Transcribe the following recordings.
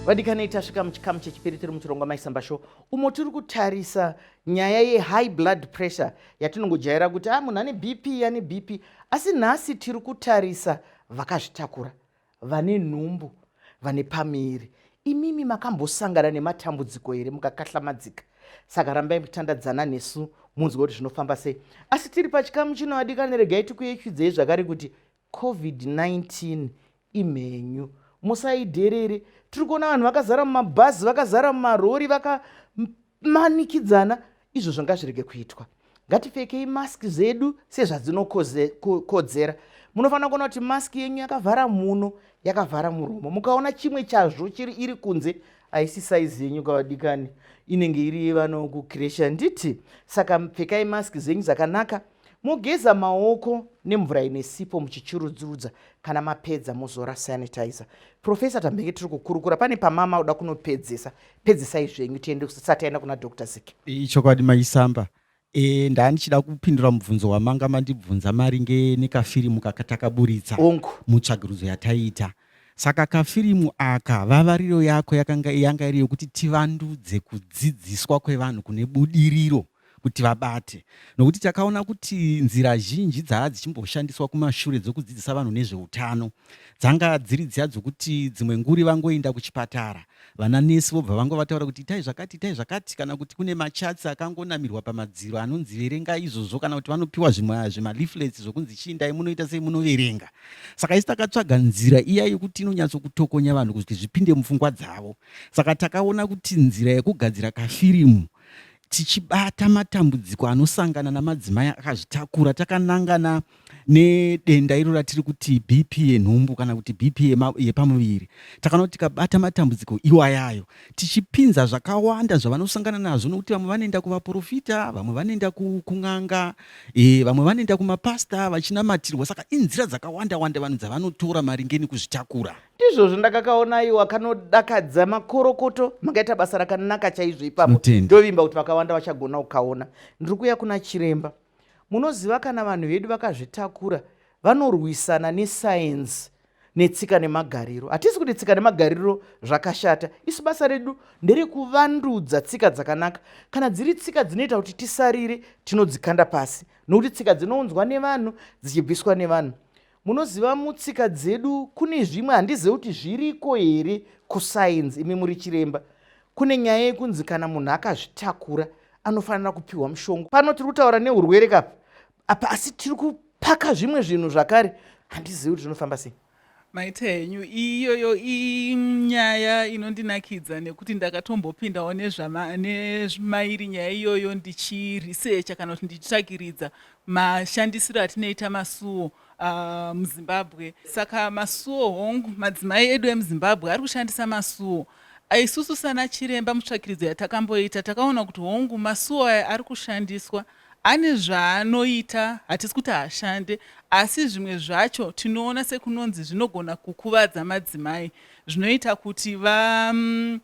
vadikanei tasvika muchikamu chechipiri tiri muchirongwa maisamba show umo tiri kutarisa nyaya yehigh blood pressure yatinongojaira kuti a ah, munhu ane bp ane bp asi nhasi tiri kutarisa vakazvitakura Vane nhumbu vane pamiri. Imimi makambosangana nematambudziko here mukakahlamadzika? Saka rambai muchitandadzana nesu munzwe kuti zvinofamba sei. Asi tiri pachikamu chino vadikani regai tikuyeuchidzei zvakare kuti COVID-19 imhenyu. Musaiderere. Tiri kuona vanhu vakazara mumabhazi, vakazara mumarori, vaka manikidzana izvo zvanga zvirege kuitwa ngatifekei mask zvedu sezvadzinokodzera munofanira kuona kuti mask yenyu yakavhara muno yakavhara muromo mukaona chimwe chazvo chiri iri kunze haisi saizi yenyu kavadikani inenge iri yevanokukiresha nditi saka pfekai mask zvenyu zvakanaka Mogeza maoko nemvura ine sipo muchichurudzurudza kana mapedza mozora sanitizer. Profesa tambenge tiri kukurukura pane pamama uda kunopedzesa pedzesai zvenyu tiende kusati aenda kuna Dr Ziki. Ichokwadi maisamba e, ndandichida kupindura mubvunzo wamanga mandibvunza maringe nekafirimu kakatakaburitsa hongu mutsvagirudzo yataiita saka kafirimu aka vavariro yako yakanga yanga iri yokuti tivandudze kudzidziswa kwevanhu kune budiriro kuti vabate nokuti takaona kuti nzira zhinji dzaa dzichimboshandiswa kumashure dzokudzidzisa vanhu nezveutano dzanga dziri dziya dzokuti dzimwe nguri vangoenda kuchipatara vana nesi vobva vango vataura kuti itai zvakati itai zvakati kana kuti kune machatsi akangonamirwa pamadziro anonzi verenga izvozvo kana kuti vanopiwa zvimaleaflets zvokunzi chiindai munoita sei munoverenga saka isi takatsvaga nzira iya yokuti inonyatsokutokonya vanhu kuti zvipinde mupfungwa dzavo saka takaona kuti nzira yekugadzira kafirimu Tichibata matambudziko anosangana namadzimai akazvitakura takanangana nedenda iro ratiri kuti BP yenhumbu kana kuti BP yepamuviri. Takanoti tikabata matambudziko iwayayo tichipinza zvakawanda zvavanosangana nazvo nokuti vamwe vanoenda kuvaprofita, vamwe vanoenda kun'anga, e, vamwe vanoenda kumapasta vachinamatirwa. Saka inzira dzakawanda wanda vanhu dzavanotora maringe nekuzvitakura. ndizvozvo ndakakaona iwa kanodakadza makorokoto makaita basa rakanaka chaizvo ipapo ndovimba kuti vakawanda vachagona kukaona ndiri kuya kuna chiremba munoziva kana vanhu vedu vakazvitakura vanorwisana nesayenzi netsika nemagariro hatisi kuti tsika nemagariro zvakashata isu basa redu nderekuvandudza tsika dzakanaka kana dziri tsika dzinoita kuti tisarire tinodzikanda pasi nokuti tsika dzinounzwa nevanhu dzichibviswa nevanhu Munoziva mutsika dzedu kune zvimwe handizive kuti zviriko here kusainzi imi muri chiremba. Kune nyaya yekunzi kana munhu akazvitakura anofanira kupiwa mushonga. Pano tiri kutaura neurwere kapa apa asi tiri kupaka zvimwe zvinhu zvakare handizivi kuti zvinofamba sei maita henyu iyoyo inyaya inondinakidza nekuti ndakatombopindawo nezvamairi nyaya iyoyo ndichiresearcha kana kuti ndichitsvakiridza mashandisiro atinoita masuwo uh, muzimbabwe saka masuwo hongu madzimai edu emuzimbabwe ari kushandisa masuwo ah, isusu sana chiremba mutsvakiridzo yatakamboita takaona kuti hongu masuwo aya ari kushandiswa ane zvaanoita hatisi kuti hashande asi zvimwe zvacho tinoona sekunonzi zvinogona kukuvadza madzimai zvinoita kuti va mm,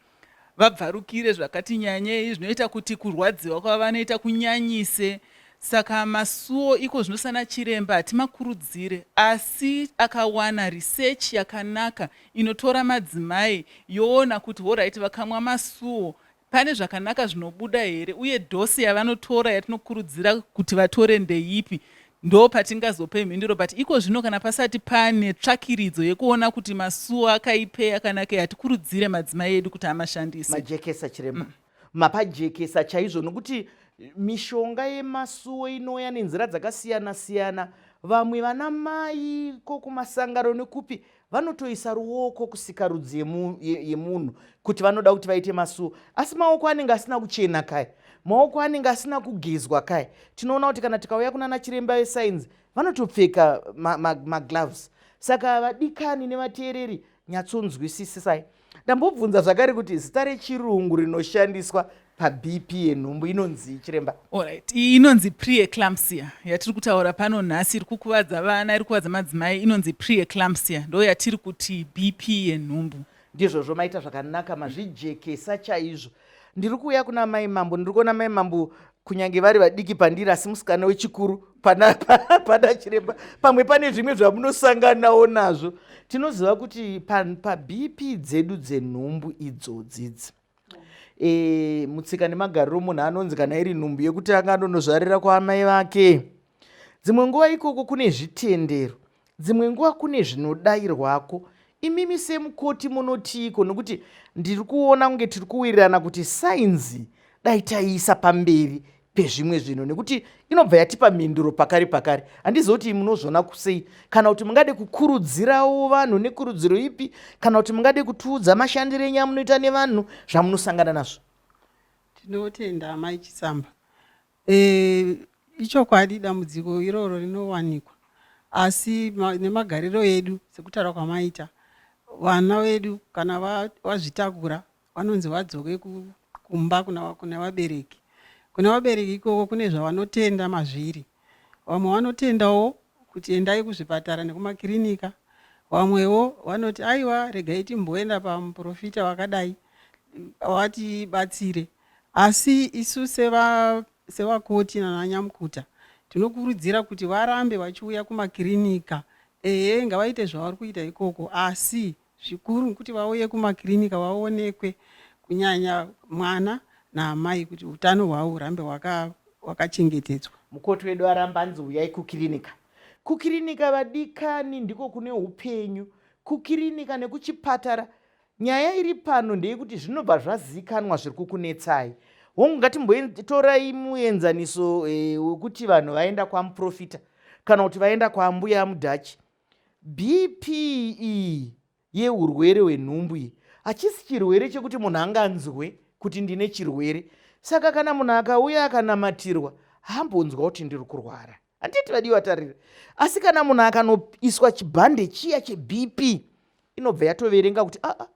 vabvarukire zvakati nyanyei zvinoita kuti kurwadziwa kwavanoita kunyanyise saka masuwo iko zvino sana chiremba hatimakurudzire asi akawana research yakanaka inotora madzimai yoona kuti horaiti vakamwa masuwo pane zvakanaka zvinobuda here uye dhosi yavanotora yatinokurudzira kuti vatore ndeipi Ndo patingazope mhinduro but iko zvino kana pasati pane tsvakiridzo yekuona kuti masuwo akaipei akanakei hatikurudzire madzimai edu kuti amashandise. Majekesa chiremba. Mm. Mapajekesa chaizvo nokuti mishonga yemasuwo inouya nenzira dzakasiyana siyana vamwe vana mai ko kumasangano nekupi vanotoisa ruoko kusikarudzi yemunhu kuti vanoda kuti vaite masuo asi maoko anenge asina kuchena kai maoko anenge asina kugezwa kai tinoona kuti kana tikauya kunana chiremba vesainzi vanotopfeka magloves ma, ma saka vadikani nevateereri nyatsonzwisisisai ndambobvunza zvakare kuti zita rechirungu rinoshandiswa pabp yenhumbu inonzi chiremba orit inonzi preeclampsia yatiri kutaura pano nhasi iri kukuvadza vana iri kukuvadza madzimai inonzi preeclampsia ndo yatiri kuti bp yenhumbu ndizvozvo maita zvakanaka mazvijekesa chaizvo ndiri kuuya kuna mai mambo ndiri kuona mai mambo kunyange vari vadiki pandiri asi musikana wechikuru pana, pana, pana chiremba pamwe pane zvimwe zvamunosanganawo nazvo tinoziva kuti pabp pa dzedu dzenhumbu idzodzidzi e, mutsika nemagariro munhu anonzi kana iri nhumbu yekutanga anonozvarira kwaamai vake Dzimwe nguva ikoko kune zvitendero, dzimwe nguva kune zvinodairwako. Imimi semukoti munotiiko nokuti ndiri kuona kunge tiri kuwirirana kuti sainzi dai taiisa pamberi pezvimwe zvinhu nekuti inobva yatipa mhinduro pakari pakari handiziva kuti munozviona kusei kana kuti mungade kukurudzirawo vanhu nekurudziro ipi kana kuti mungade kutiudza mashandiro enyu amunoita nevanhu zvamunosangana nazvo tinotenda amai chisamba Eeh ichokwadi dambudziko iroro rinowanikwa asi nemagariro edu sekutaura kwamaita vana vedu kana vazvitakura vanonzi vadzoke kumba kune vabereki. Kune vabereki ikoko kune zvavanotenda mazviri. Vamwe vanotendawo kuti endai kuzvipatara nekumakirinika. Vamwewo vanoti aiwa regai timboenda pamuporofita wakadai vatibatsire. Asi isu sevakoti nananyamukuta tinokurudzira kuti varambe vachiuya kumakirinika. Ehe ngavaite zvavari kuita ikoko asi zvikuru kuti vauye kumakirinika vaonekwe kunyanya mwana naamai kuti utano hwavo hurambe hwakachengetedzwa. Mukoti wedu aramba anzi huyai kukirinika. Kukirinika vadikani ndiko kune hupenyu. Kukirinika nekuchipatara Nyaya iri pano ndeyekuti zvinobva zvaziikanwa zviri kukunetsai. Hongu, ngatimbotorai muenzaniso eh, wekuti eh, vanhu vaenda kwamuprofita kana kuti vaenda kwaambuya amudhachi. BPE yeurwere hwenhumbu iyi hachisi chirwere chekuti munhu anganzwe kuti ndine chirwere saka kana munhu akauya akanamatirwa hambonzwa kuti ndiri kurwara handiti vadiwa tarira asi kana munhu akanoiswa chibhande chiya chebp inobva yatoverenga kuti aa ah, ah,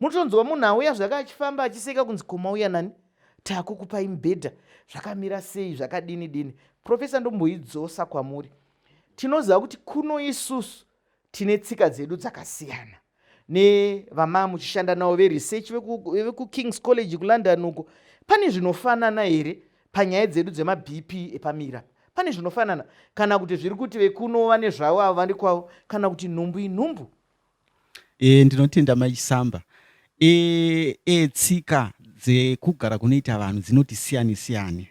mutonzwa munhu auya zvake achifamba achiseka kunzi komauya nani takukupai mubhedha zvakamira sei zvakadini dini profesa ndomboidzosa kwamuri tinoziva kuti kuno isusu tine tsika dzedu dzakasiyana nevama muchishanda navo veresearch vekukings college kulondon uko pane zvinofanana here panyaya dzedu dzemabp epamira pane zvinofanana kana kuti zviri kuti vekuno vane zvavo avo vane kwavo kana kuti nhumbu inhumbu e, ndinotenda maisamba E, e, tsika dzekugara kunoita vanhu dzinoti siyane siyane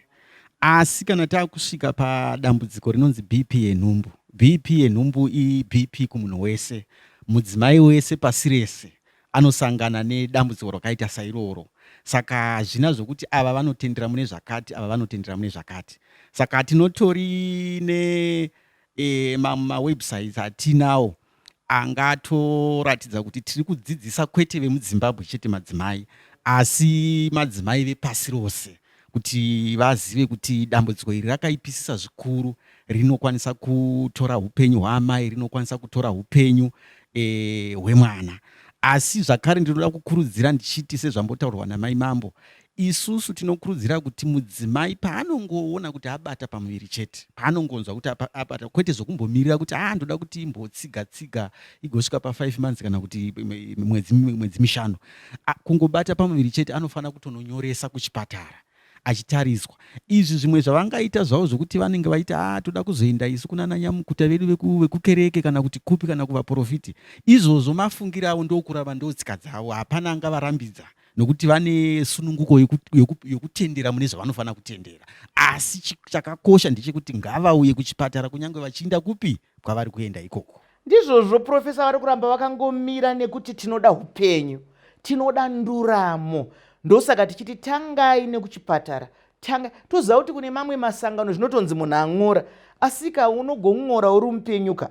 asi kana takusvika padambudziko rinonzi bp yenhumbu bp yenhumbu ibp kumunhu wese mudzimai wese pasi rese anosangana nedambudziko rakaita sairoro saka hazvina zvokuti ava vanotendera mune zvakati ava vanotendera mune zvakati saka tinotori ne e, mawebsites ma atinawo anga atoratidza kuti tiri kudzidzisa kwete vemudzimbabwe chete madzimai asi madzimai vepasi rose kuti vazive kuti dambudziko iri rakaipisisa zvikuru rinokwanisa kutora upenyu hwaamai rinokwanisa kutora upenyu eh, hwemwana e, asi zvakare ndinoda kukurudzira ndichiti sezvambotaurwa namai mambo Isusu tinokurudzira kuti mudzimai paanongoona kuti abata pamuviri chete, paanongonzwa kuti abata, kwete zvokumbomirira kuti aa ah, ndoda kuti imbotsiga tsiga igosvika pa5 months kana kuti mwedzi mwedzi mishanu, kungobata pamuviri chete anofanira kutononyoresa kuchipatara achitariswa izvi zvimwe zvavangaita zvavo zvokuti vanenge vaita a ah, toda kuzoenda isu kuna nanyamukuta vedu vekukereke kana kuti kupi kana kuvaprofiti izvozvo mafungiro avo ndokurava ndotsika dzavo hapana angavarambidza nokuti vane sununguko yokutendera mune zvavanofanira kutendera asi chakakosha ndechekuti ngavauye kuchipatara kunyange vachiinda kupi kwavari kuenda ikoko ndizvozvo profesa vari kuramba vakangomira nekuti tinoda upenyu tinoda nduramo ndosaka tichiti tangai nekuchipatara tanga toziva kuti kune mamwe masangano zvinotonzi munhu ang'ora asika unogong'ora uri mupenyuka